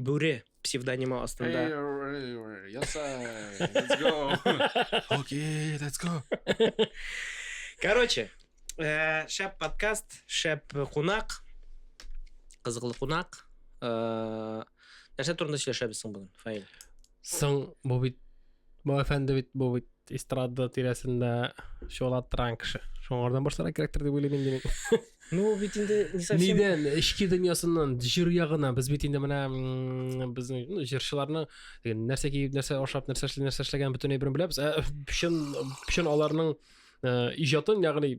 Бүре псевдонимы астында. Окей, let's go. Короче, э, шәп подкаст, шәп кунак, кызыклы кунак. Э, нәрсә турында сөйләшәбез соң бүген, Фаил? Соң, бу бит, бу әфәнде бит, бу бит эстрада тирәсендә чолаттырган кеше шуңардан башларга кирәктер дип уйлыйм инде мин ну бит инде не совсем нидән эчке дөньясыннан җыр ягына без бит инде менә безнең ну җырчыларны нәрсә киеп нәрсә ашап нәрсә эшли нәрсә эшләгәнен бөтенләй берен беләбез ә чын чын аларның э, иҗатын ягъни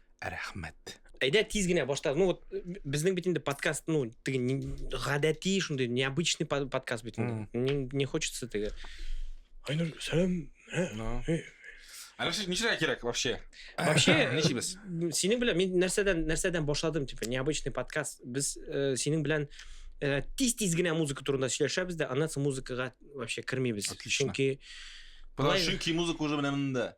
рәхмәт әйдә тиз генә башта ну вот безнең бит инде подкаст ну теге гадәти шундый необычный подкаст бит инде не, не хочется теге айнур сәлам Әлем сез ничегә кирәк вообще? Вообще, ничегез? Синең белән мин нәрсәдән нәрсәдән башладым, типа, необычный подкаст. Без э, синең белән э, тиз-тиз генә музыка турында сөйләшәбез дә, аннан соң музыкага вообще кермибез. Чөнки Чөнки музыка уже менә монда.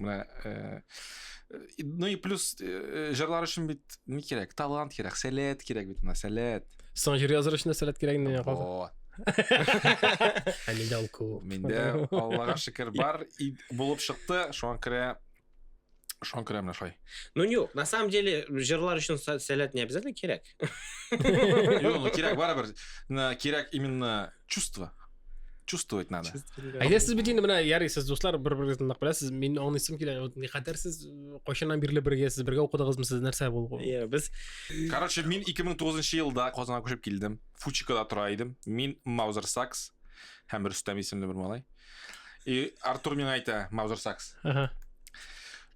менә э, ну и плюс э, жырлар өчен бит ни кирәк талант кирәк сәләт кирәк бит менә сәләт соң җыр языр өчен сәләт кирәк инде ә миндә ул күп миндә аллага шөкер бар и булып шыкты шуңа күрә шуңа күрә менә шулай ну юк на самом деле жырлар өчен сәләт не обязательно кирәк Юк, ну кирәк барыбер. На кирәк именно чувство. Чувствовать надо. Әйдә сез бит инде менә ярый сез дуслар бер-берегезне нык беләсез. Мин аңлыйсым килә. Вот никадәр сез кайчаннан бирле бергә сез бергә укыдыгызмы сез нәрсә булгы? Иә, без Короче, мин 2009 елда Казанга күчеп килдем. Фучикада тора идем. Мин Маузер Сакс һәм Рөстәм исемле бер малай. И Артур миңа әйтә, Маузер Сакс. Ага.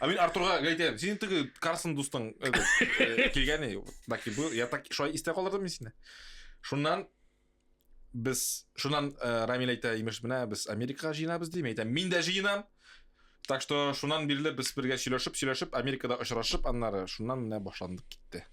А мин Артурга әйтәм, синең теге Карсон дустың э, килгәне, так бу, я так шулай истә калдырдым мин сине. Шуннан без, шуннан э, Рамил әйтә, имеш, менә без Америкага җыенабыз дим, әйтәм, мин дә җыенам. Так что шуннан бирле без бергә сөйләшеп, сөйләшеп, Америкада очрашып, аннары шуннан менә башландык китте.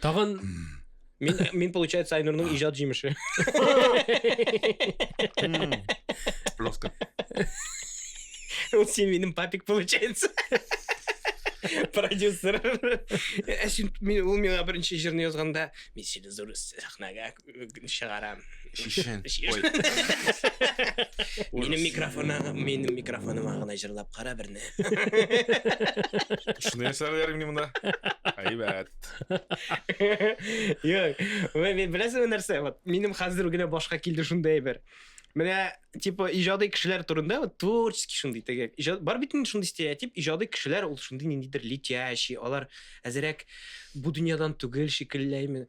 Тагын Мин, мин получается, Айнурның иҗат җимеше. Жестко. Ул син минем папик получается. Продюсер. Ә син мин ул миңа беренче җырны язганда, мин сине зур сәхнәгә чыгарам. Шишен. Минем микрофона, минем микрофоныма гына җырлап кара берне. Шуны ясарлар инде монда. Әйбәт. Юк, мен беләсезме нәрсә? Вот минем хәзер генә башка килде шундый әйбер. Менә типа иҗади кешеләр турында вот творческий шундый теге. Иҗат бар бит инде шундый стереотип, иҗади кешеләр ул шундый ниндидер летящий, алар әзерәк бу дөньядан түгел шикелләйме.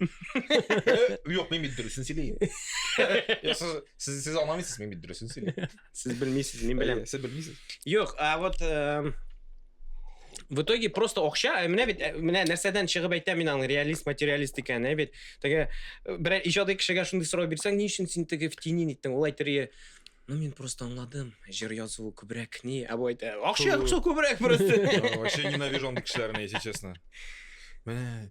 Юк, мин бит дөресен сөйлим. Сез сез аңламыйсыз, мин бит дөресен сөйлим. Сез белмисез, мин беләм. Сез белмисез. Юк, а вот э, в итоге просто акча, э, менә бит э, менә нәрсәдән чыгып әйтә мин аны реалист, материалист икән, ә бит. Теге бер иҗади кешегә шундый сорау бирсәң, ни өчен син теге в тени иттең? Ул әйтергә Ну, мин просто аңладым. Жир язу күбрәк ни, ә бу әйтә. Акча, акча күбрәк просто. Вообще ненавижу андый кешеләрне, если честно. Менә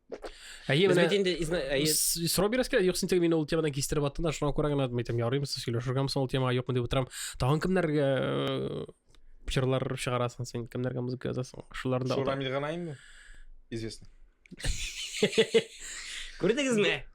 Әйе, менә бит инде әйе. С Роберс килә, юксын тиң мин ул темадан кистереп аттым да, шуңа күрә генә әйтәм, ярыйм сез сөйләшергә соң ул темага юкмы дип утырам. Тагын кемнәргә э, җырлар чыгарасың син, кемнәргә музыка язасың? Шуларда. Шурамил гына инде. Известно. Күрдегезме?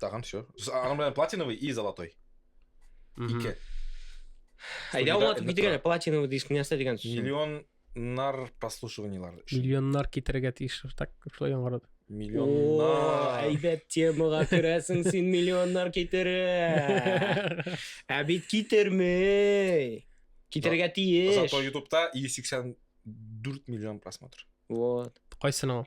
Тагын все. Аның белән платиновый и золотой. Ике. Әйдә аңлатып китер әле платиновый диск нәрсә дигән сүз. Миллионнар прослушиваниелар. Миллионнар китерергә тиеш так шулай яңгырады. Миллионнар. Әйбәт темага керәсең син миллионнар китерә. Ә бит китермей. Китерергә тиеш. Зато ютубта 184 миллион просмотр. Вот. Кайсының?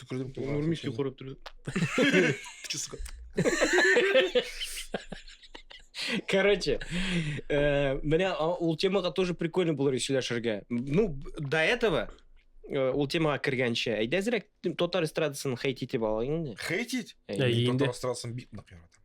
Түкердем Ул кулга. Нурмис юкарып торды. Кичи, сука. Короче, э, менә а, ул темага тоже прикольно булыр сөйләшергә. Ну, б- до этого э, ул темага кергәнче, әйдә әзрәк татар эстрадасын хейт итеп алайык инде. Хейтить? Әйдә. Әйе. Мин инде. татар эстрадасын бик нык яратам.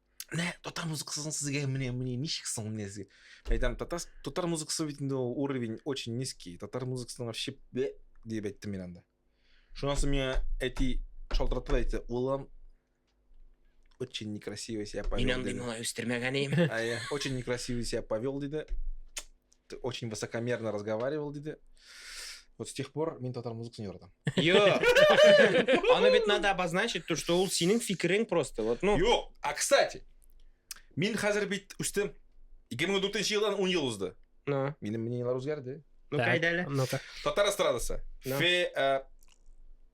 Нә, татар музыкасын сезгә менә менә ничек соң менә сезгә? Мен әйтәм, татар татар музыкасы бит инде ул уровень очень низкий. Татар музыкасын вообще бе дип әйттем мин анда. Шуннан соң миңа әти шалтыратты да әйтте, улым, очень некрасиво себя повел. Мин андый диде. малай үстермәгән идем. А я очень некрасиво себя повел, диде. Ты очень высокомерно разговаривал, диде. Вот с тех пор мин татар музыкасын яратам. Йо! Аны бит надо обозначить, то, что ул синең фикерең просто. Вот, ну... Юк! А, кстати, мин хәзер бит үстем. 2004 елдан 10 ел узды. Ну, Минем мнениелар үзгәрде. ну Так, кайда әле? Ну-ка. Татар эстрадасы. Да. Фе, э,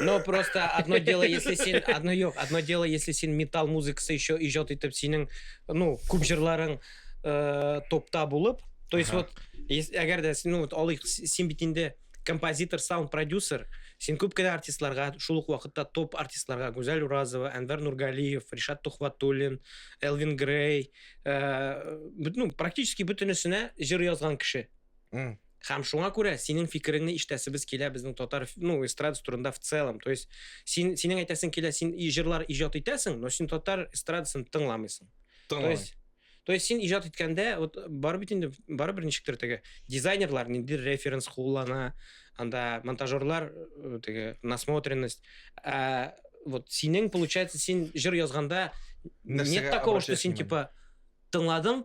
Но просто одно дело, если син, одно юк, одно дело, если син металл музыкасы еще иҗат итеп синең, ну, күп җырларың э, топта булып, то есть вот, әгәр дә, ну, вот, алыйк, син бит инде композитор, саунд продюсер, син күп кенә артистларга, шул ук вакытта топ артистларга, Гүзәл Уразова, Әнвәр Нургалиев, Ришат Тухватуллин, Элвин Грей, э, ну, практически бөтенесенә җыр язган кеше. Һәм шуңа күрә синең фикереңне ишетәсебез килә безнең татар, ну, эстрадасы турында в целом. То есть, син, синең әйтәсең килә, син и җырлар иҗат итәсең, но син татар эстрадасын тыңламыйсың. То есть, то есть син иҗат иткәндә, вот бар бит инде, бар бер ничектер теге дизайнерлар нинди референс куллана, анда монтажерлар э, теге насмотренность. А вот синең получается син җыр язганда нет такого, что син типа тыңладың,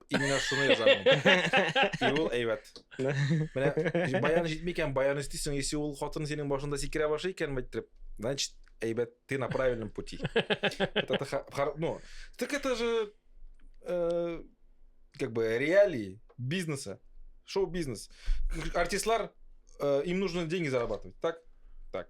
именно шуны язамын. И ул әйбәт. Менә баян җитми икән, баян өстисең, если ул хатын синең башында сикерә башлый икән, мәйттереп, значит, әйбәт, ты на правильном пути. Это, ну, так это же э, как бы реалии бизнеса, шоу-бизнес. Артистлар, э, им нужно деньги зарабатывать, так? Так.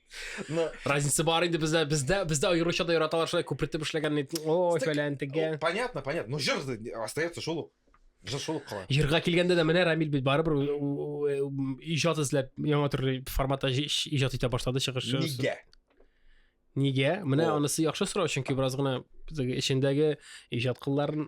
Разница бар инде бездә, бездә, бездә аеруча да яраталар шулай күпертеп эшләгән ит. Ой, фәлән тегә. Понятно, понятно. Ну җыр остается шул. Җыр шул кала. Җырга килгәндә дә менә Рамил бит барыбер иҗат эзләп яңа төрле форматта иҗат итә башлады чыгышы. Нигә? Нигә? Менә анысы яхшы сорау, чөнки бераз гына эчендәге иҗат кылларын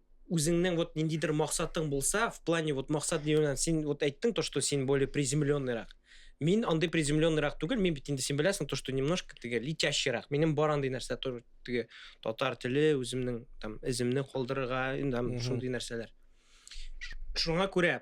үзеңнең вот ниндидер максатың булса в плане вот максат дигән син вот әйттең то что син более приземленныйрак мин андый приземленныйрак түгел мин бит инде син беләсең то что немножко теге летящийрак минем бар андый нәрсә теге татар теле үземнең там эземне калдырырга там шундый нәрсәләр шуңа күрә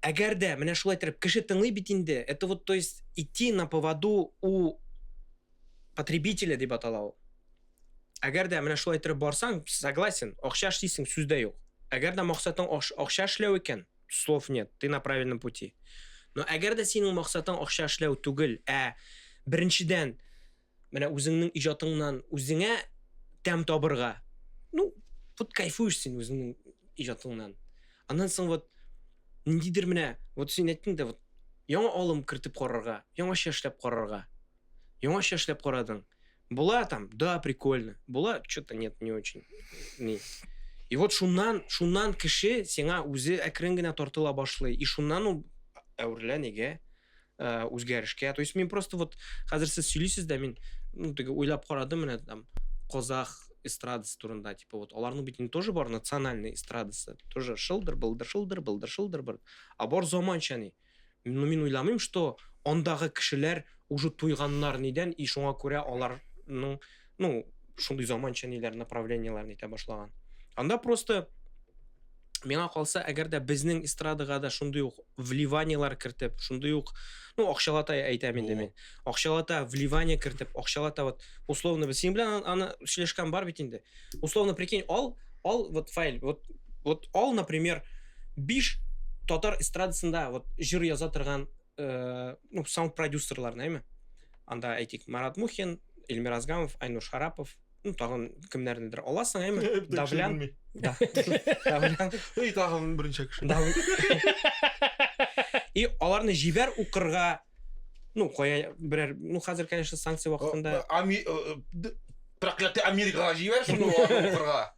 Әгәр дә менә шулай иттереп кеше тыңлый бит инде, это вот то есть идти на поводу у потребителя дип атала ул. Әгәр дә менә шулай иттереп барсаң, согласен, акча эшлисең, сүз дә юк. Әгәр дә максатың акча эшләү икән, слов нет, ты на правильном пути. Но әгәр дә синең максатың акча эшләү түгел, ә беренчедән Менә үзеңнең иҗатыңнан үзеңә тәм табырга. Ну, вот кайфуешь син үзеңнең иҗатыңнан. Аннан соң вот ниндидер менә, вот син әйттең дә, вот яңа алым кертеп карарга, яңача эшләп карарга. Яңача эшләп карадың. Була там, да, прикольно. Була, что-то нет, не очень. Ни. И вот шуннан, шуннан кеше сиңа үзе әкрен генә тартыла башлый. И шуннан ул әверелә нигә? ә, үзгәрешкә то есть мин просто вот хәзер сез сөйлисез дә мин ну теге уйлап карадым менә там казах эстрадасы турында типа вот аларның бит инде тоже бар национальный эстрадасы тоже шылдыр былдыр шылдыр былдыр шылдыр быр а бар заманча ни ну мин уйламыйм что андагы кешеләр уже туйганнар нидән и шуңа күрә аларның ну шундый заманча ниләр направлениеләрне итә башлаган анда просто миңа калса әгәр дә безнең эстрадага да шундый ук вливаниелар кертеп шундый ук ну акчалата әйтәм инде мин акчалата вливание кертеп акчалата вот условно без синең белән аны сөйләшкән бар бит инде условно прикинь ал ал вот файл вот вот ал например биш татар эстрадасында вот җыр яза торган э, ну, саунд продюсерлар нәме анда әйтик марат мухин эльмир азгамов айнур шарапов ну тагын кемнәрнедер аласың әме давлян давлян и тагын беренче кеше и аларны җибәр укырга ну кая берәр ну хәзер конечно санкция вакытында э, э, проклятый америкага җибәр шуны укырга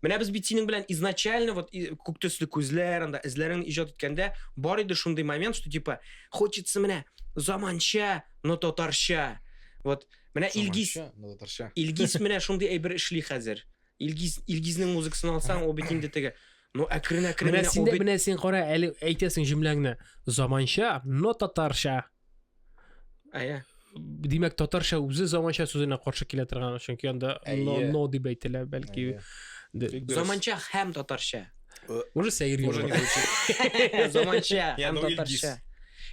Менә без бит синең белән изначально вот күк төсле күзләр, анда эзләрен иҗат иткәндә бар иде шундый момент, что типа хочется менә заманча, но татарча. Вот менә Илгиз, но татарча. Илгиз менә шундый әйбер эшли хәзер. Илгиз Илгизнең музыкасын алсаң, ул бит инде теге Ну, әкрен әкрен менә син, менә син кара, әле әйтәсең җөмләңне. Заманча, но татарча. Әйе. Димәк, татарча үзе заманча сүзенә каршы килә торган, чөнки анда но, но дип әйтелә, бәлки. Заманча һәм татарча. Э, уже сәер Уже не звучит. Заманча һәм татарча.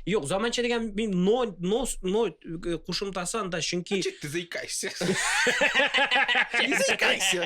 Юк, заманча дигән мин но но но э, кушымтасы анда, чөнки Чик ты заикаешься. Ты заикаешься.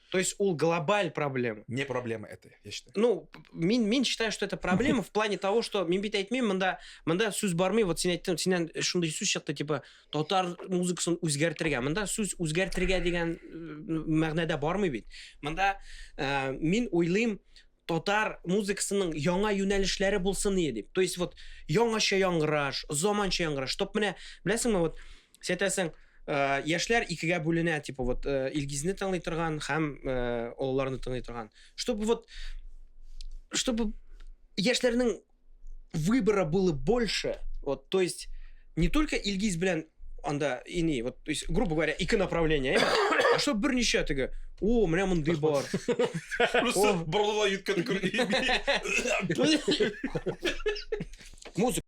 То есть ул глобаль проблема. Не проблема это, я считаю. Ну, мин, мин считаю, что это проблема в плане того, что мин бит әйтмим, монда, монда сүз бармый, вот син әйттем, синен шундый сүз чыкты, типа, татар музыкасын үзгәртергә. Монда сүз үзгәртергә дигән э, мәгънәдә бармый бит. Монда э, мин уйлыйм, татар музыкасының яңа юнәлешләре булсын ие дип. То есть вот яңача яңгыраш, заманча яңгыраш. Чтоб менә, беләсеңме, вот Син әйтәсең, э, яшьләр икегә бүленә, типа вот э, Илгизне тыңлый торган һәм э, олыларны тыңлый торган. Чтобы вот чтобы яшьләрнең выбора было больше. Вот, то есть не только Илгиз белән анда ини, вот, то есть, грубо говоря, ике направление, а что берничә теге, о, менә мондый бар. Просто борылып йөткән күрдем. Музыка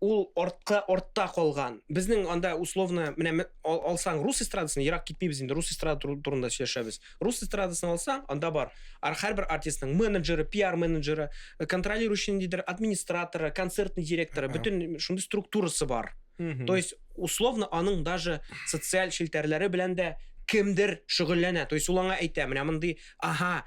ул артка артта калган безнең анда условно менә алсаң рус эстрадасын ерак китмибез инде рус эстрада турында сөйләшәбез рус эстрадасын алсаң анда бар һәрбер артистның менеджеры пиар менеджеры э, контролирующий ниндидер администраторы концертный директоры бөтен шундый структурасы бар то есть условно аның даже социаль челтәрләре белән дә кемдер шөгыльләнә то есть ул аңа әйтә менә мондый ага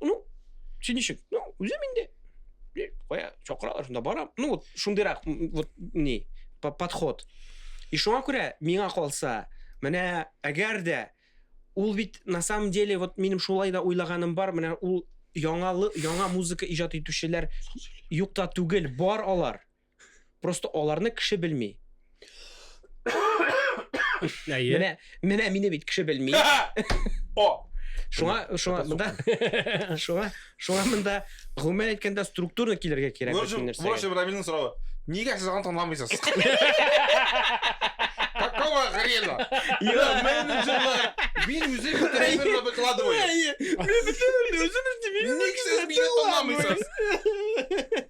Ну, син ничек? Ну, үзем инде. Кая, чакыралар, шунда барам. Ну, вот, шундыйрак, вот, не, подход. И шуңа күрә, миңа калса, менә, әгәр дә, ул бит, на самом деле, вот, минем шулай да уйлаганым бар, менә, ул, яңалы, яңа музыка иҗат итүчеләр юкта түгел, бар алар. Просто аларны кеше белми. Әйе. Менә, менә мине бит кеше белми. О! Шуңа, шуңа монда шуңа, шуңа монда гомумән әйткәндә структурно килергә кирәк бит нәрсә. Ваш Ибрамилнең соравы. Нигә сез аны танымыйсыз? Какого хрена? Я менеджерлар. Мин үзем тренерны выкладываю. Мин үзем үзем. Ник сез мине танымыйсыз?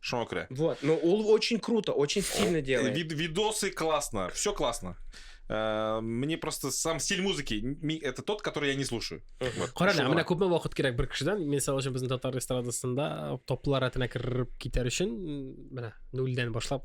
Шуңа күрә. Вот, но ул очень круто, очень стильно делает. Вид, видосы классно, все классно. Э, мне просто сам стиль музыки это тот, который я не слушаю. Кара, менә менә күпме вакыт кирәк бер кешедән, мисал өчен безнең татар эстрадасында топлар рәтенә кереп китәр өчен, менә нульдән башлап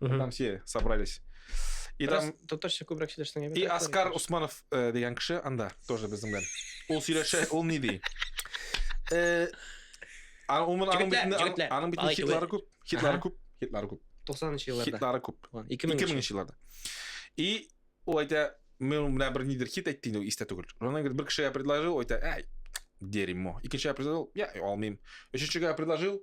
Угу. Там все собрались. И там... Татарча күбрәк сөйләшсәң И Оскар Усманов э, дигән кеше анда тоже безнең белән. Ул сөйләшә, ул ни ди? Э, аның битендә аның битендә хитлары күп, хитлары күп, хитлары күп. 90-нчы елларда. Хитлары күп. 2000-нчы елларда. И ул әйтә, мен менә бер нидер хит әйтте инде, истә түгел. Ронан бер кешегә предложил, әйтә, әй, дерьмо. Икенчегә предложил, я алмыйм. Өченчегә предложил,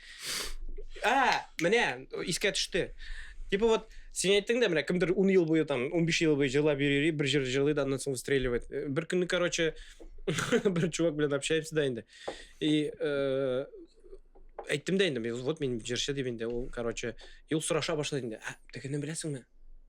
А, менә, искә төште. Типа вот, сен әйттең дә, менә кемдер 10 ел буе там, 15 ел буе җырлап йөри, бер җыр җырлый да, аннан соң выстреливает. Э, бер көнне, короче, бер чувак белән общаемся да инде. И э, әйттем дә инде, вот мин җырчы дип инде, ул, короче, юл сораша башлады инде. Ә, тегене беләсеңме?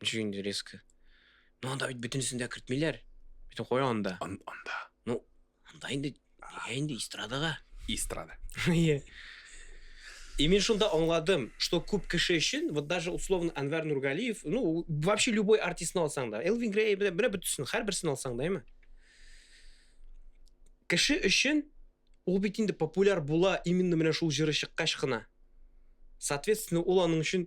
Ничек инде резко? Ну, анда бит бөтенесен дә кертмиләр. Бөтен куя анда. Ан- Анда. Ну, анда инде нигә инде эстрадага? Эстрада. Иә. И мен шунда аңладым, что күп кеше өчен, вот даже условно Анвар Нургалиев, ну, вообще любой артистны алсаң да, Элвин Грей, бля, бля, бөтенсен, һәрберсен алсаң да, әйме? Кеше өчен ул бит инде популяр була именно менә шул җыры чыккач кына. Соответственно, ул аның өчен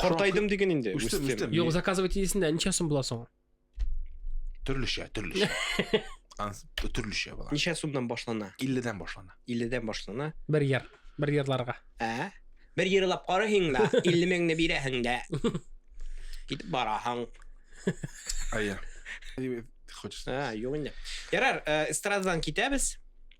Картайдым диген инде. Үстем, үстем. Юк, заказывать идесен дә ничә сум була соң? Төрлечә, төрлечә. Төрлечә була. Ничә сумнан башлана? 50-дән башлана. 50-дән башлана. Бер яр, бер ярларга. Ә? Бер ярлап карыйһың да, 50 меңне бирәһең дә. Китеп бараһың. Ая. Хочешь? А, юк инде. Ярар, э, эстрададан китәбез.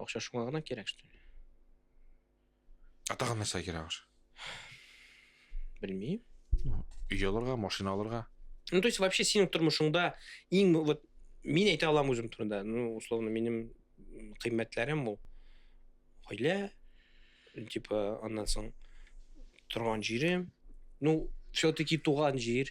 Акча шуңа гына кирәк, что ли? А тагын нәрсә кирәк аш? Белмим. Өй алырга, машина алырга. Ну, то есть вообще синең тормышыңда иң вот мин әйтә алам үзем турында. Ну, условно, минем кыйммәтләрем бу. Гаилә, типа, аннан соң торган җирем. Ну, все-таки туган җир.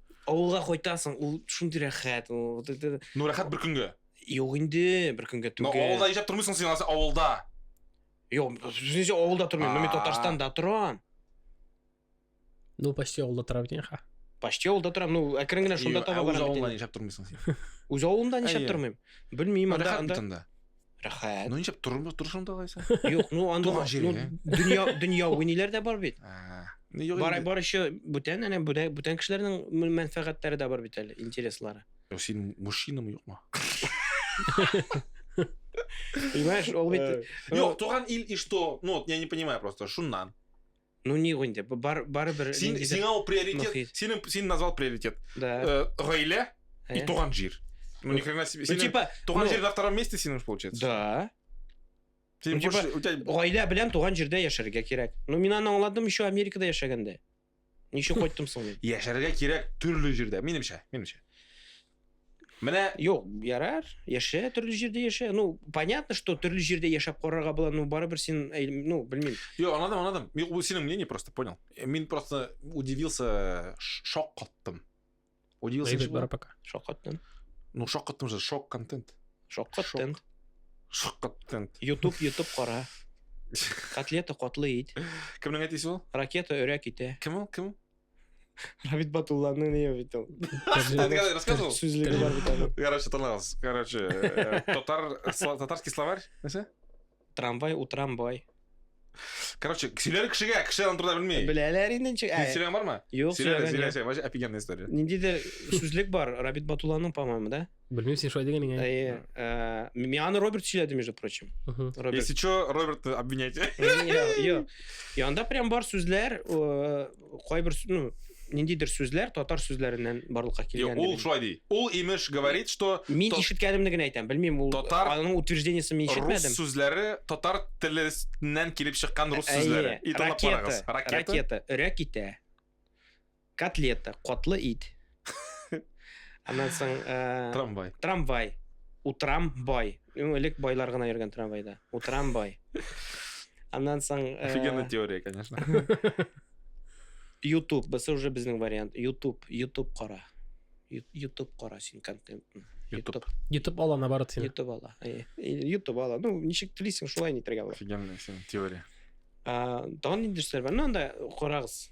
Авылга кайтасың, ул шундый рәхәт. Ну, рәхәт бер көнгә. Юк инде, бер көнгә түгел. Ну, авылда яшәп тормыйсың син, аласы авылда. Юк, сүзенчә авылда тормыйм, мин Татарстанда торам. Ну, почти авылда торам дигән ха. Почти авылда торам, ну, әкрен генә шунда таба барам. Үз авылыңда яшәп тормыйсың син. Үз авылымда яшәп тормыйм. Белмим, анда. Рәхәт. Ну ничек тормы торышыңда алайса? Юк, ну анда Туган җире, ну, ә? дөнья дөнья уйнилар да бар бит. А, Ну юк. Бар инде. бар еще бүтән әнә бүтән бүтән кешеләрнең мөн- мәнфәгатьләре дә бар бит әле, интереслары. Ну, Син мужчинамы юкмы? Понимаешь, ул бит Э, Юк, туган ил и что? Ну вот я не понимаю просто. Шуннан. Ну не инде, бар барыбер Син сиңа ул приоритет, синең син назвал приоритет. Да. Э, гаилә и э? туган җир. Ну ни хрена себе. Ну типа туган ну, җир на втором месте синең получается. Да. Син ну, типа гаилә белән туган җирдә яшәргә кирәк. Ну мин аны аңладым еще Америкада яшәгәндә. Ничек кайттым соң мин? Яшәргә кирәк төрле җирдә, минемчә, минемчә. Менә Юк, ярар, яшә, төрле җирдә яшә. Ну, понятно, что төрле җирдә яшәп карарга була, ну барыбер син, ну, белмим. Юк, анадым, анадым. Юк, бу синең мнение просто, понял. Э, мин просто удивился, шок каттым. Удивился. Дэвид Бара пока. Шок каттым. Ну, шок каттым же, шок контент. Шок контент. Шок контент. YouTube, YouTube кара. Котлета котлы ит. Кемнең әтисе ул? Ракета өрәк ите. Кем ул? Кем? Равит Батулланы не видел. Рассказывал? Короче, тыңлаңыз. Короче, э, татар, татарский словарь. Нәрсә? Трамвай, утрамбай. Короче, сөйләр кешегә, кеше аны турыда белми. Беләләр инде ничек. Ә, Сөйләгән бармы? Юк, сөйләгән. Сөйләсә, офигенная история. Ниндидер сүзлек бар, Рабит Батулланың, по-моему, да? Белмим, син шулай дигән икән. Әйе. Э, Мин аны Роберт сөйләде, между прочим. Мгм. Роберт. Если что, Робертты обвинять. Йо, йо. И анда прям бар сүзләр, э, кайбер су- ну, ниндидер сүзләр татар сүзләреннән барлыкка Йо, килгән. Ул шулай ди. Ул имеш говорит, что Мин тот- ишеткәнемне генә әйтәм. Белмим, ул Татар- аның утверждениесен мин рус ишетмәдем. сүзләре татар теленнән килеп чыккан рус Әйе, сүзләре. И тыңлап ракета, карагыз. Ракета. ракета, өрә китә. Котлета, котлы ит. Аннан соң... Э, трамвай. Трамвай. Утрам бай. Элек байлар гына йөргән трамвайда. Утрам бай. Аннан соң... Э, Офигенная теория, конечно. YouTube, бысы уже безнең вариант. YouTube, YouTube кара. YouTube кара син контент. YouTube. YouTube ала наоборот син. YouTube ала. Э, YouTube ала. Ну, ничек телисең, шулай нитергә була. Офигенная син теория. А, тагын инде нәрсәләр бар. Ну, анда карагыз.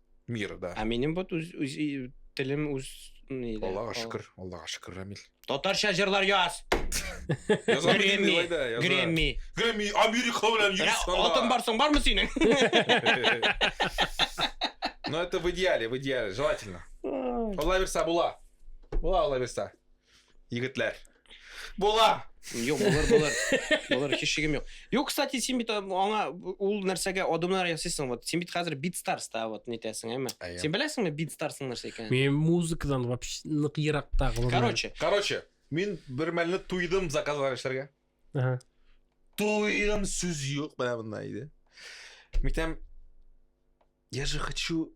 Мира, да. Ә минем вот үз, үз и- телем үз ни дә, Аллага кал- шөкер, Аллага шөкер, Рамил. Татарча җырлар яз. Яза Грэмми, белмим, Илай да, яза. Грэмми. Грэмми, Америка белән Рә- йөрис анда. Алтын барсың бармы синең? Но это в идеале, в идеале, желательно. Алла бирса була. Була Алла бирса. Егетләр. Була. Юк, булыр, булыр. Булыр, һич шигем юк. Юк, кстати, син бит аңа ул нәрсәгә адымнар ясыйсың. Вот син бит хәзер бит старста вот нитәсең, әйме? Син беләсеңме бит старсның нәрсә икәнен? Мин музыкадан вообще нык еракта. Короче. Короче, мин бер мәлне туйдым заказлар эшләргә. Ага. Туйдым сүз юк, менә монда иде. Митәм, я же хочу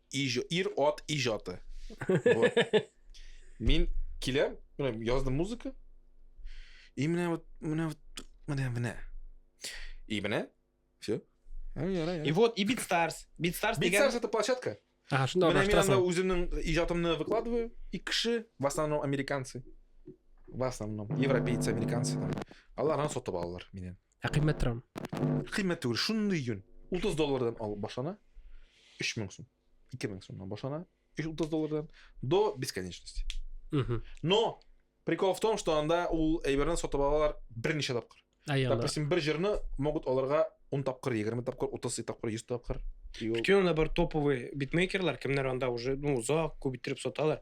Ир ат ижаты. Мин киләм, менә яздым музыка. И менә вот, менә вот, менә, менә. И менә, все. И вот, и Битстарс. Битстарс деген... Битстарс это площадка. Ага, шунда Менә мин анда үземнең иҗатымны выкладываю, и кеше, в основном американцы, в основном европейцы, американцы, алар аны сатып алалар миннән. Ә кыйммәт торамы? Кыйммәт түгел, шундый йөн. 30 доллардан алып башлана, 3000 сум, 2000 сумнан башлана, 30 доллардан до бесконечности. Угу. Но прикол в том, что анда ул әйберне сатып алалар берничә тапкыр. Допустим, бер җырны могут аларга 10 тапкыр, 20 тапкыр, 30 тапкыр, 100 тапкыр. Бүтән анда бар топовый битмейкерлар, кемнәр анда уже, ну, узак, күп иттереп саталар.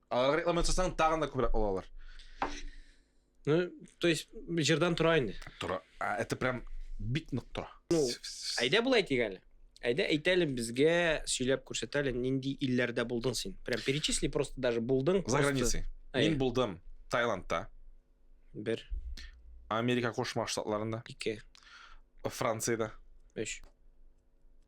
Алар реклама ясасаң, тагын да күбрәк алалар. Ну, то есть, җырдан тора инде. Тора. А, это прям бик нык тора. Ну, әйдә болай әйтик әле. Әйдә әйтәле безгә сөйләп күрсәтәле, нинди илләрдә булдың син? Прям перечисли просто даже булдың. За границей. Мин булдым Таиландта. Бер. Америка Кошмар Штатларында. Ике. Францияда. Өч.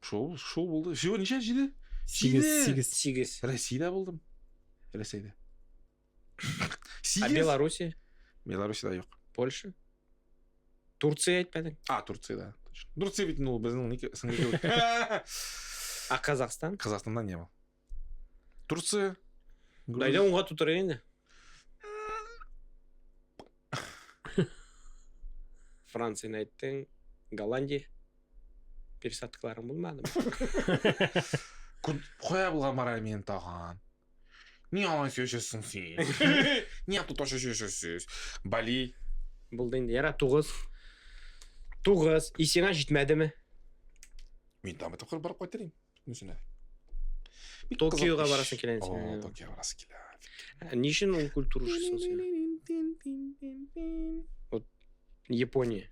Шул, шул булды. Всего ничә җиде? Сигез, сигез. Сигез. Рәсәйдә булдым. Рәсәйдә. Сигез. А Беларуси? Беларусида юк. Польша? Турция әйтмәдең? А, Турция, да. Турция бит ул безнең сеңле. А Казахстан? Казахстанда не был. Турция. Груз... Дайда унга тутыра инде. Францияны әйттең, Голландия. Пересадкаларың булмады. Кая булган бара мин тагын? Ни алай сөйләшәсең син? Ни ату ташы сөйләшәсез? Бали. Булды инде. Яра тугыз. Тугыз. Исеңә җитмәдеме? Мин там тапкыр барып кайтырым. Үзенә. Бик Токиога кызык барасың килә инде. О, Токиога барасың килә. Ә Ни өчен ул культура шусын син? Вот Япония.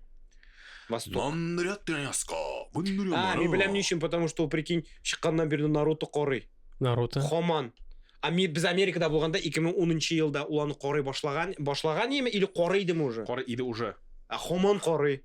Восток. Мандрят тряска. А, мин беләм ни өчен, потому что ул прикинь, чыкканнан бирле Наруто карый. Наруто. Хаман. А ми- без Америкада булганда 2010 елда ул аны карый башлаган, башлаган яме или карый идеме уже? Кара иде уже. А Хаман карый.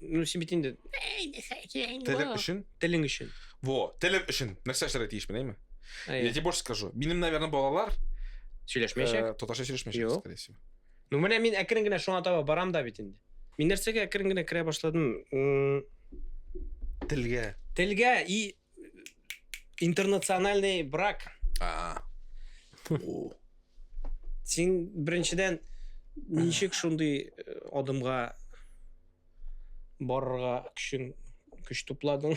Ну, син бит инде... Телең өчен? Телең өчен. Во, телем өчен. Нәрсә эшләргә тиешмен, әйме? Я тебе больше скажу. Минем, наверное, балалар... Сөйләшмәячәк? Э, Татарча сөйләшмәячәк, скорее всего. Ну, менә мин әкрен генә шуңа таба барам да бит инде. Мин нәрсәгә әкрен генә керә башладым? Телгә. Телгә и Интернациональный брак. А. Син беренчедән ничек шундый э, адымга барырга көчең көч тупладың,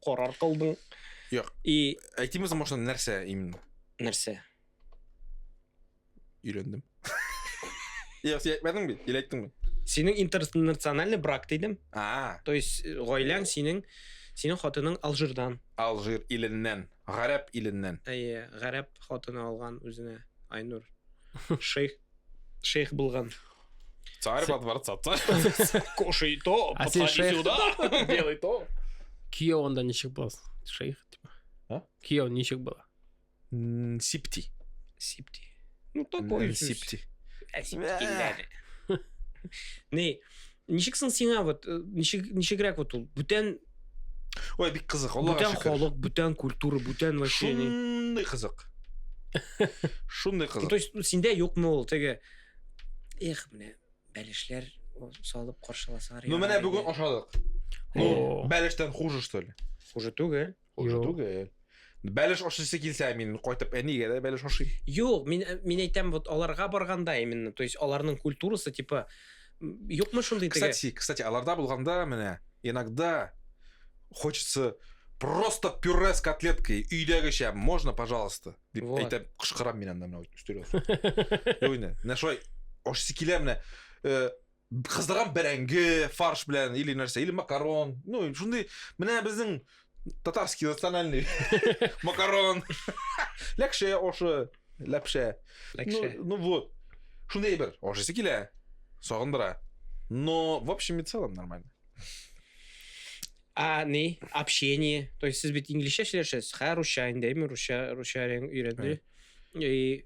карар кылдың? Юк. И әйтимез машина нәрсә именно? Нәрсә? өйләндем. Йә, син әйтмәдең бит, или әйттеңме? Синең интернациональный брак дидем. А. То есть э, гаиләң синең синең хатының Алжирдан. Алжир иленнән, гарәп иленнән. Әйе, гарәп хатыны алган үзенә Айнур. Шейх шейх булган. Царь во дворца, царь. Кушай то, а син шейх... сюда, делай то. Кияу анда ничек буласың? Шейх, типа. А? Кияу ничек була? Сипти. Сипти. Ну, такой Сипти. Сипти Не, ничек соң сиңа вот, э, ничек, ничегрәк вот ул, бүтән Ой, бик кызык, Аллага шөкер. Бүтән халык, бүтән культура, бүтән вообще. Шундый кызык. Шундый кызык. То есть, синдә юкмы ул теге Эх, менә бәлешләр салып каршыласалар. Ну, менә бүген ашадык. Ну, бәлештән хуже, что ли? Хуже түгел. Хуже түгел. Бәлеш ашыйсы килсә, мин кайтып әнигә дә бәлеш ашыйм. Юк, мин мин әйтәм, вот аларга барганда именно, то есть аларның культурасы типа юкмы шундый теге. Кстати, кстати, аларда булганда менә иногда хочется просто пюре с котлеткой өйдәгечә можно пожалуйста дип вот. әйтәм кычкырам мин анда менә өстәлгә менә шулай ашыйсы килә менә э, кыздырган бәрәңге фарш белән или нәрсә или макарон ну шундый менә безнең татарский национальный макарон ләкшә ошы ләпшә ну, ну вот шундый әйбер ашыйсы килә сагындыра но в общем и целом нормально а не общение то есть сез бит инглишчә сөйләшәсез хә русча инде әйме русча русча өйрәнде и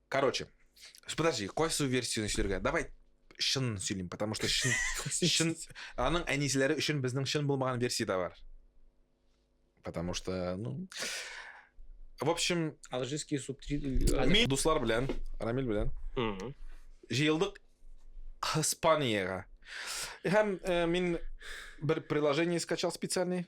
Короче, подожди, кайсы версияны сөйләргә? Давай шын сөйлим, потому что шын, шын аның әнисләре өчен безнең шын булмаган версия да бар. Потому что, ну, в общем, алжирский субтитр. Мин дуслар белән, Рамил белән. Җыелдык Испаниягә. Һәм э, мин бер приложение скачал специальный.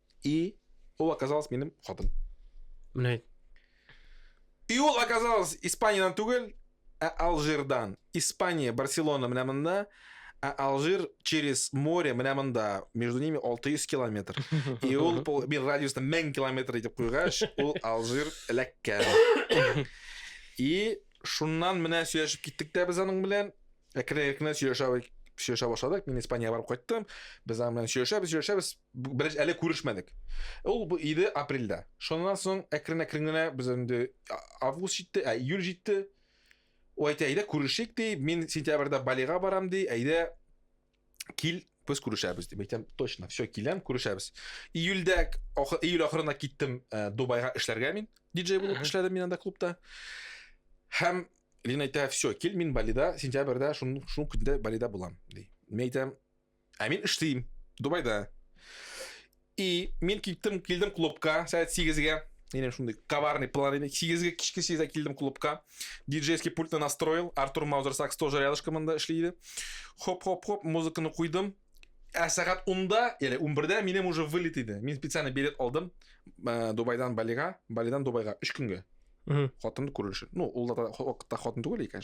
И ол оказалась минем хатын. Менә әйт. И ул оказалось Испаниядән түгел, ә Алжирдан. Испания, Барселона менә монда, ә Алжир через море менә монда. Между ними 600 километр. И ул мин радиусны 1000 километр итеп куйгач, ул Алжир эләккән. И шуннан менә сөйләшеп киттек тә без аның белән. Әкрен-әкрен сөйләшә сөйләшә башладык. Мин Испаниягә барып кайттым. Без аның белән сөйләшәбез, сөйләшәбез. Беренче әле күрешмәдек. Ул 7 апрельдә. Шуннан соң әкрен-әкрен генә без инде август җитте, ә июль җитте. Ул әйтә, әйдә күрешик ди, мин сентябрьдә Балига барам ди, әйдә кил, без күрешәбез дип әйтәм. Точно, все, киләм, күрешәбез. Июльдә, июль ахырына киттем э, Дубайга эшләргә мин. Диджей булып эшләдем мин анда клубта. Һәм Лина әйтә, все, кил, мин Балида, сентябрьдә, шул көндә Балида булам, ди. Мин әйтәм, Ә мин эшлим Дубайда. И мин киттем, килдем клубка сәгать 8-гә. Минем шундый коварный план иде. 8-гә кичке 8-гә килдем клубка. Диджейский пультны настроил. Артур Маузер сакс тоже рядышком монда эшли иде. Хоп-хоп-хоп, музыканы куйдым. Ә сәгать 10-да, яли 11-дә минем уже вылет иде. Мин специально билет алдым. Э, Дубайдан Балига, Балидан Дубайга 3 көнгә. Хатынды күрер өчен. Ну, ул да хатын түгел икән.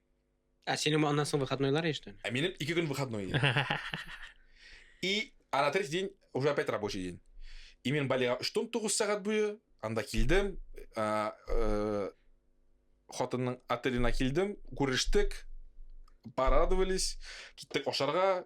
Ә синең аннан соң выходнойлар есть, что ли? Ә минем ике көн выходной. И а на третий день уже опять рабочий день. И мен балига үштон тугыз сәгать буе анда килдем, ә, ә, хатынның отеленә килдем, күрештек, порадовались, киттек ашарга,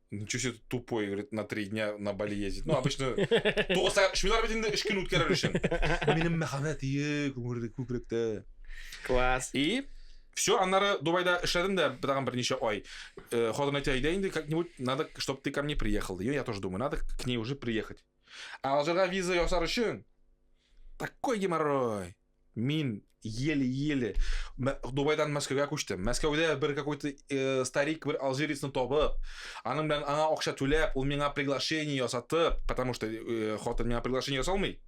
Ничего себе тупой, говорит, на три дня на Бали ездит. Ну, обычно... Шмилар бит инде үш көн үткәрер өчен. Минем мәхәббәт ие, күкрәктә. Класс. И все, аннары Дубайда эшләдем дә тагын берничә ай. Э, Хатын әйтә, әйдә инде как-нибудь, надо, чтобы ты ко мне приехал. И я тоже думаю, надо к ней уже приехать. А Алжирга виза ясар өчен такой геморрой. Мин еле-еле Дубайдан Мәскәүгә күчтем. Мәскәүдә бер какой-то э, старик бер алжирецны табып, аның белән аңа акча түләп, ул миңа приглашение ясатып, потому что э, хатын миңа приглашение ясалмый.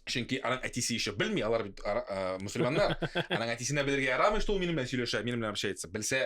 Чөнки аның әтисе еще белми, алар бит э, мусульманнар. Аның әтисенә белергә ярамый, что ул минем белән сөйләшә, минем белән общается. Белсә,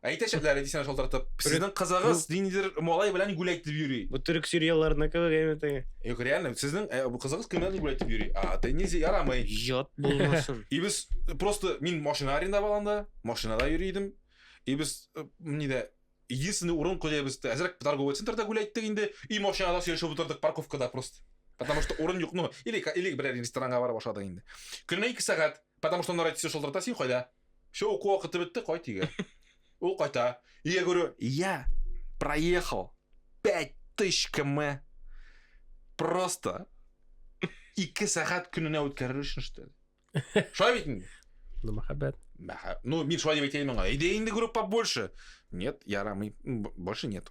Әйтәчәкләр иде сине шалтыратып. Сезнең кызыгыз ниндидер малай белән гүл әйтеп йөри. Бу төрек сериалларына кебегәме теге? Юк, реально, сезнең э, бу кызыгыз кемнән гүл әйтеп йөри? А, ты нельзя, ярамый. Ят булмасын. И без э, просто мин машина арендовал анда, машинада йөри идем. И без э, нидә единственный урын куя без әзрәк торговый центрда гүл әйттек инде, и машинада сөйләшеп утырдык парковкада просто. Потому что урын юк, ну, или или берәр ресторанга барып ашадык инде. Көненә 2 сәгать, потому что аннары әйтсә шалтырата син кайда? Все, уку вакыты бетте, кайт өйгә. Ул кайта. Я говорю, я проехал 5000 км просто ике сәгать көненә үткәрер өчен штэ. Шулай бит инде. Ну, мәхәббәт. Мәхә- Ну, мин шулай дип әйтәйем аңа. Әйдә инде группа больше. Нет, ярамый. М, б- Больше нет.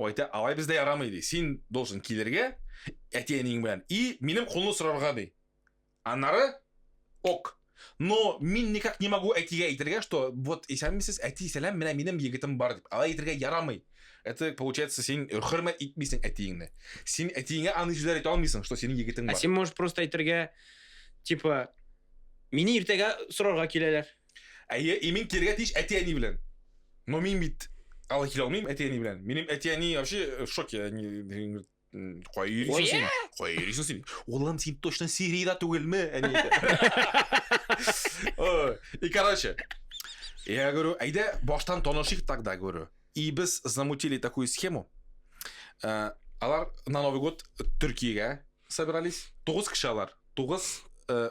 Айта, алай бездә ярамый ди. Син должен килергә әти-әниең белән и минем кулны сорарга ди. Аннары ок. Но мин никак не могу әтигә әйтергә, что вот исәнмесез, әти, сәлам, менә минем егетем бар дип. Алай әйтергә ярамый. Это получается син хөрмәт итмисең әтиеңне. Син әтиеңә аны сүзләр әйтә алмыйсың, что синең егетең бар. Ә син можешь просто әйтергә, типа, мине иртәгә сорарга киләләр. Әйе, и мин килергә тиеш әти-әни белән. Но мин бит алай килә алмыйм әти-әни белән. Минем әти-әни вообще э, в шоке. Они говорят, «М, Кая йөрисең Оя! син? Кая йөрисең син? Улым, син точно Сириядә түгелме? Әни әйтә. Ой, И короче, я говорю, әйдә баштан танышыйк тогда, говорю. И без замутили такую схему. Э, Алар на Новый год Төркиягә собирались. Тугыз кеше алар. Тугыз э,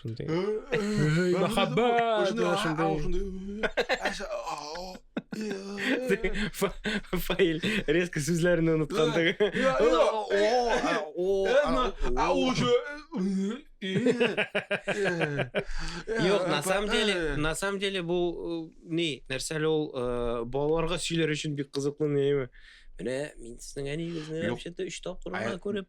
Шундый. Мәхәббәт. Фаил резко сүзләрен оныткандыгы. Юк, на самом деле, на самом деле бу ни, нәрсә әле ул балаларга сөйләр өчен бик кызыклы нәйме. Менә мин сезнең әниегезне вообще-то 3 тапкыр гына күреп.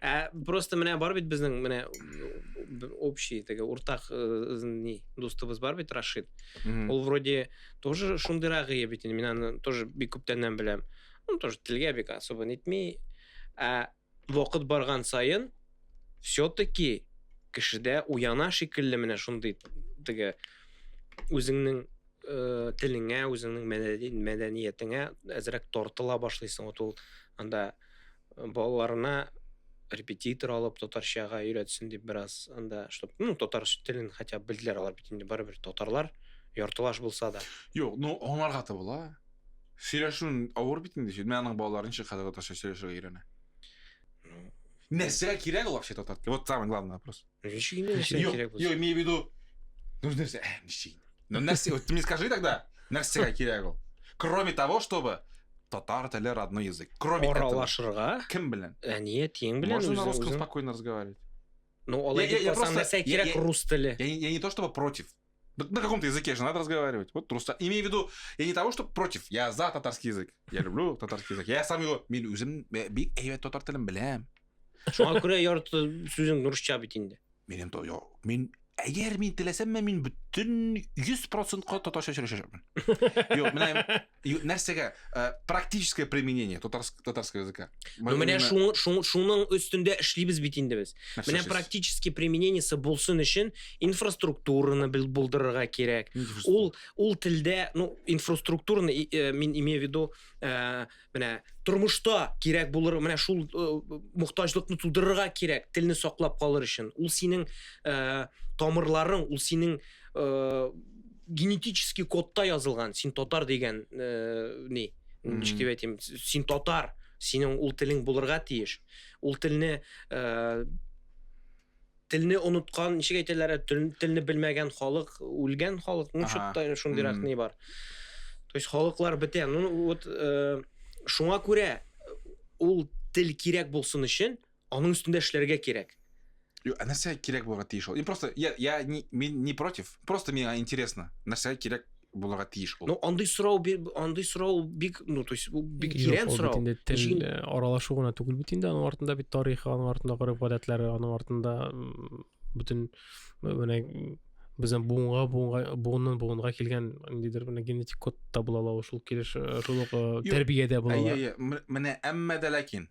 Ә просто менә бар бит безнең менә общий теге уртак э, ни дустыбыз бар бит Рашид. Ул вроде тоже шундыйрак ие бит инде. Мин аны тоже бик күптәннән беләм. Ну тоже телгә бик особо нитми. Ә вакыт барган саен все-таки кешедә уяна шикелле менә шундый теге үзеңнең э, телеңә, үзеңнең мәдәниятеңә әзрәк тартыла башлыйсың. Вот ул анда балаларына репетитор алып татарчага өйрәтсен дип бераз анда чтобы ну татар телен хотя бы белделәр алар бит инде барыбер татарлар яртылаш булса да юк ну аңларга да була сөйләшүен авыр бит инде мен аның балалары ничек хәзер татарча сөйләшергә өйрәнә нәрсә кирәк ул вообще татар теле вот самый главный вопрос Ничек инде нәрсә Юк, кирәк юк, булсын? имею в виду... Нужно нәрсә... Ә, ничек? Ну, нәрсә, вот ты мне скажи тогда, нәрсәгә кирәк ул? Кроме того, чтобы татар теле родной язык. Кроме этого. Аралашырга, Кем белән? әният тиең белән Можно на үзең- русском үзең- спокойно разговаривать. Ну, алай Я- я- дип я калсаң, просто- нәрсә я- кирәк я- рус теле? Я, не- я не то чтобы против, Да на каком-то языке же надо разговаривать. Вот просто. Имею в виду, я не того, что против, я за татарский язык. Я люблю татарский язык. Я сам его, мен өзім бик әйбәт татар телен білем. Шуңа күрә ярты сүзең русча бит инде. Минем то, я, мин, әгәр мин теләсәм, мен бүтін 100%-ка татарча сөйләшәчәкмен. Юк, менә И нәрсәгә? Э, практическое применение татарского языка. Ну, менә шуның өстендә эшлибез бит инде без. Менә практически применениесе булсын өчен инфраструктураны булдырырга кирәк. Ул ул телдә, ну, инфраструктураны э, мин имею в виду, э, менә тормышта кирәк булыр, менә шул мохтаҗлыкны тудырырга кирәк, телне саклап калыр өчен. Ул синең тамырларың, ул синең генетический кодта язылган син татар дигән э, ни ничек дип әйтим син татар синең ул телең булырга тиеш ул телне э, телне оныткан ничек әйтәләр телне белмәгән халык үлгән халык ну чутта шундыйрак ни бар то есть халыклар бетә ну вот э, шуңа күрә ул тел кирәк булсын өчен Аның өстендә эшләргә кирәк. Юк, ә нәрсә кирәк булырга тиеш ул? Мин просто я я не мин не против. Просто миңа интересно. Нәрсә кирәк булырга тиеш ул? Ну, андый сорау андый сорау бик, ну, то есть, бик тирән сорау. Инде тел э, аралашу гына түгел бит инде, аның артында бит тарихы, аның артында гореф гадәтләре, аның артында бөтен э, менә безнең буынга буынга буыннан буынга килгән ниндидер менә генетик код та була ала шул килеш э, шул ук тәрбиядә була. Әйе, әйе. Менә әмма дә ләкин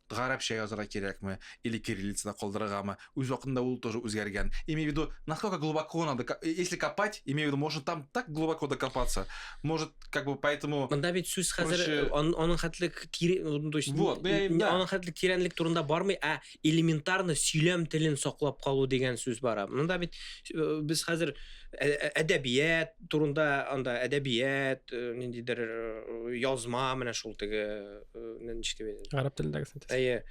Гарәпчә язырга кирәкме, или кириллицада калдырыргамы, үз вакытында ул тоже үзгәргән. Имею в виду, насколько глубоко надо, если копать, имею в виду, можно там так глубоко докопаться, может, как бы поэтому. Монда бит сүз хәзер аның хәтле тире, то есть, вот, аның хәтле тирәнлек турында бармый, ә элементарно сөйләм телен саклап калу дигән сүз бара. Монда бит без хәзер әдәбият турында, анда әдәбият, ниндидер язма, менә шул теге ничек дип әйтәм гарәп телендәге синтез әйе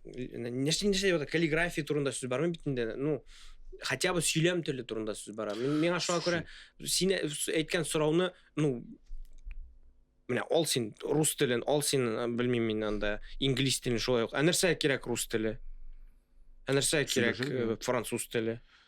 нәрсә нәрсә каллиграфия турында сүз бармы бит инде ну хотя бы сөйләм теле турында сүз бара миңа шуңа күрә син әйткән сорауны ну менә ал син рус телен ал син белмим мин анда инглиз телен шулай ук ә нәрсә кирәк рус теле ә нәрсә кирәк француз теле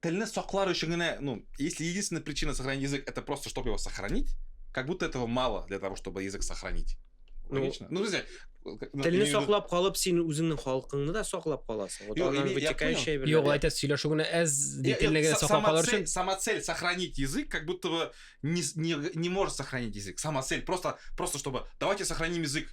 Телне саклар өчен генә, ну, если единственная причина сохранить язык, это просто, чтобы его сохранить, как будто этого мало для того, чтобы язык сохранить. Ну, Логично. Ну, друзья, телне саклап калып, син үзеңнең халкыңны да саклап каласың. Вот аннан вытекающая бер. Юк, әйтәс, сөйләшү генә әз телне генә саклап калыр өчен. Сама цель сохранить язык, как будто бы не не не может сохранить язык. Сама цель просто просто чтобы давайте сохраним язык.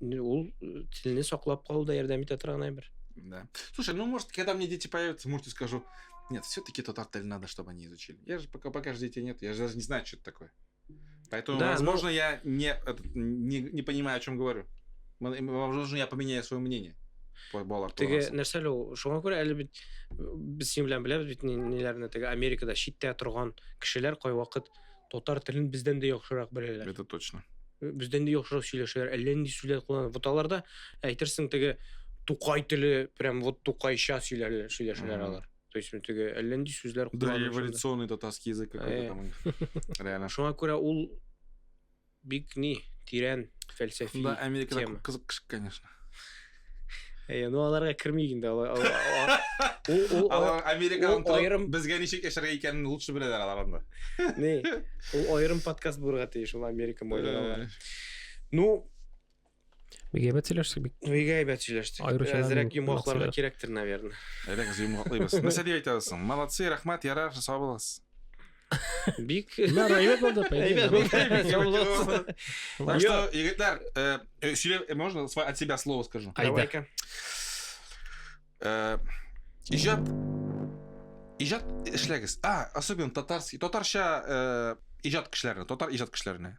Ул телне саклап калуда ярдәм итә торган әйбер. Да. Слушай, ну может, когда мне дети появятся, может, я скажу, нет, все-таки тот отель надо, чтобы они изучили. Я же пока, пока же детей нет, я же даже не знаю, что это такое. Поэтому, да, возможно, но... Ну я не, не, не понимаю, о чем говорю. Возможно, я поменяю свое мнение. балалар теге нәрсә әле ул шуңа күрә әле бит без синең белән беләбез бит ниләрне теге америкада читтә торган кешеләр кайвакыт Татар телен бездән дә яхшырак беләләр. Это точно. Бездән дә яхшырак сөйләшәләр. Әллә нинди сүзләр кулланып. Вот аларда әйтерсең теге тукай теле прям вот тукайча сөйләләр, сөйләшәләр Мгм. алар. То есть теге әллә нинди сүзләр Да, кулланып. эволюционный татарский язык какой-то Э. там. Реально. Шуңа күрә ул Бик ни, тирән, фәлсәфи тема. Шунда Америкада күп кызык кеше, конечно. Әйе, ну аларга кермик инде. Алар Америкадан торып, безгә ничек яшәргә икәнен лучше беләләр алар анда. Ни, ул аерым подкаст булырга тиеш, ул Америка майларына. Ну, Бик әйбәт сөйләштек бик. Бик әйбәт сөйләштек. Аеруча Әзрәк йомгакларга кирәктер, наверное. Әйдәк, йомгаклыйбыз. Нәрсә дип әйтә аласың? Молодцы, рәхмәт, ярар, сау булыгыз. Бик. Мә район булды, әйбәт. Так что, егетләр, э, э, сөйлә, э, можно от себя слово скажу? Айда. Иҗат иҗат эшләгез. А, особенно татарский, татарча иҗат кешеләрне, татар иҗат кешеләрне.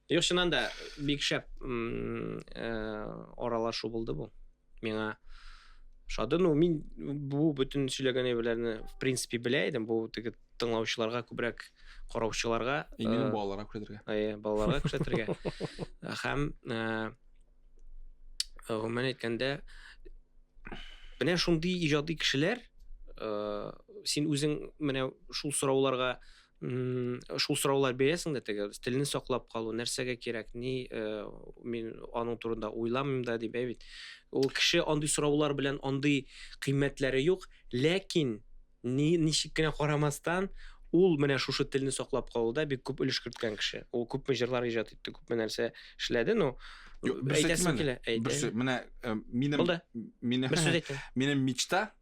Юк, чыннан да бик шәп аралашу э, булды бу. Миңа шады. Ну, мин бу бөтен сөйләгән әйберләрне в принципе белә идем. Бу теге тыңлаучыларга күбрәк караучыларга именно э, балаларга күрсәтергә. Әйе, балаларга күрсәтергә. Һәм э, гомумән әйткәндә менә шундый иҗади кешеләр син үзең менә шул сорауларга шул сораулар бирәсең дә теге телне саклап калу нәрсәгә кирәк ни э, мин аның турында уйламыйм да дип бит ул кеше андый сораулар белән андый кыйммәтләре юк ләкин ни ничек кенә карамастан ул менә шушы телне саклап калуда бик күп өлеш керткән кеше ул күпме җырлар иҗат итте күпме нәрсә эшләде но әйтәсем килә менә э, минем минем мечта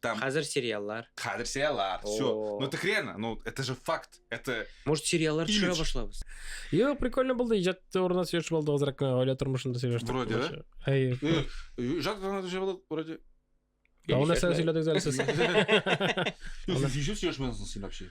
Там... Хазер сериаллар. Хазер сериаллар. Все. Ну так реально, ну это же факт. Это... Может, сериаллар Имидж. төшерә башлабыз? Йо, прикольно булды. Иҗат турында сөйләшеп алдык азрак кына гаилә тормышында сөйләштек. Вроде, да? Әйе. Иҗат турында төшереп алдык, вроде. Давно нәрсә сөйләдегез әле сез? Сез ничек сөйләшмәдегез син вообще?